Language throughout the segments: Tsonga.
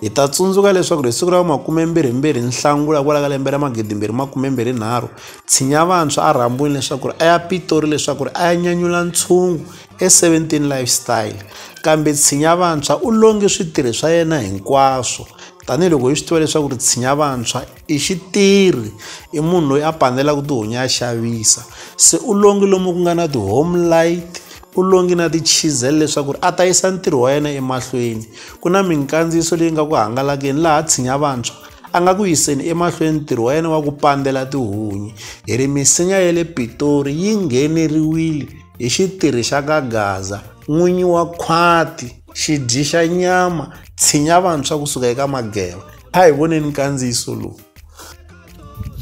Hi ta tsundzuka leswaku hi siku ra makumembirhimbirhi Nhlangula hikwala ka lembe ra magidimbirhi makumembirhinharhu, Tshinya Vantshwa a rhambiwile leswaku a ya Pitori leswaku a ya nyanyula ntshungu e-17 Lifestyle. Kambe Tshinya Vantshwa u longe switirhi swa yena hinkwaswo, tanihiloko hi swi tiva leswaku Tshinya Vantshwa I xitirhi i munhu loyi a panelaka tihomu ya xavisa se u longi lomu ku nga na ti-home light u longi na ti-chisel leswaku ri a ta yisa ntirho wa yena emahlweni ku na minkandziyiso leyi nga ku hangalakile laha tshinya vantshwa a nga ku yiseni emahlweni ntirho wa yena wa ku pandzela tihunyi hi ri misinya ya le pitori yi ngheneriwile hi xitirhi xa ka gaza n'winyi wa khwati xidyi xa nyama tshinya vantshwa kusuka eka mageva a hi voneni nkandziyiso lowu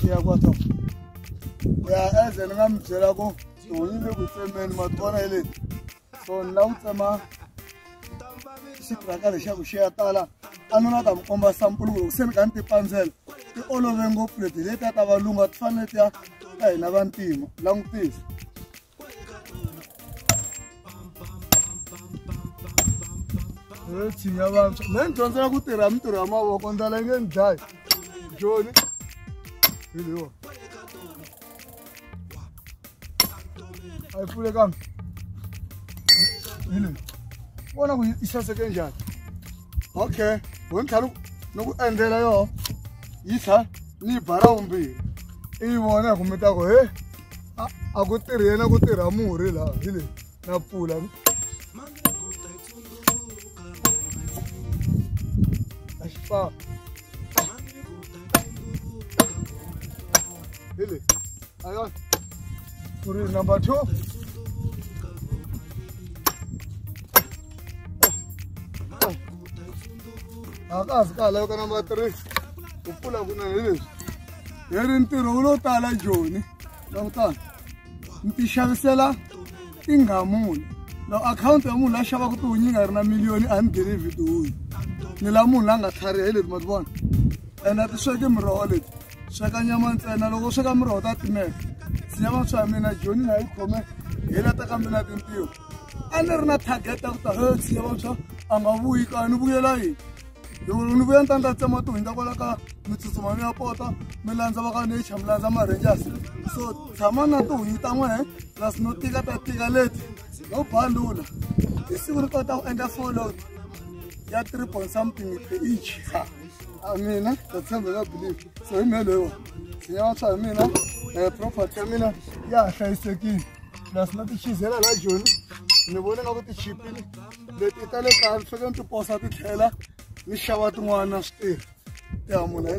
ya kwata ya eze ni nga mi byela ku tihoyi le ku tsemeni ma tivona hi leti so ni la ku tsema xitiraka lexaku xi ya tala a ni nga ta mi komba sampulu ku loko se ni ka ni ti pandzela ti olove ngopfu leti leti ya ta valunga ti fanele ti ya ka hina vantima langutisa tshinya vantshwa me ni dyondzela ku tirha mintirho ya mavoko ndlala yi nge ni dlayi joni hi leyiwa a yi pfule kambe hi leyi vona ku yi saseke njhani okay ho ni tlhela ni ku endlela yoho yi tlha ni yi bara vumbirhi i yi vona hi ku mi ta ku he a a ku tirhi yena ku tirha murhi laha hi leyi na pfula a xi fa hi leyi a yona ku ri number two a ka ha swi ka ha laveka number three ku pfula kunene hi leswi hi ri ntirho wu lo tala joni langutana mi ti xavisela tinghamuni loko akhawunti ya munhu la xavaka tiwunyi nga ri na miliyoni a ni ngheni vhidi wuyi ni la munhu la nga tlhariha hi leti ma ti vona ene a ti sweki miroho leti sweka nyama ntsena loko u sweka miroho ta timela sinyama swa mina joni na yi khome hi lata ka mina tintiho a ni ri na target ya ku ta he sinyama swa a nga vuyi ka ni vuyela yini loko ni vuya ni ta ni ta tsema ti hundza kwala ka mi tsutsuma mi ya pota mi landza va ka nature mi landza ma-rangers so tshama na tihunyi ta n'wehe plus no tika ta tika leti no balula hi siku ri kota ku endla follow ya three point something per each ha a mina ta tshemba ka believe so hi mehe loyiwa sinya wa swa hi mina um property ya mina ya ha hlayisekile plus na tichizela la joni ni vone nga ku tichipile leti ta le kaya ni fanekele ni ti posa ti tlhela ni xava tin'wana swi tirhi ya muna hi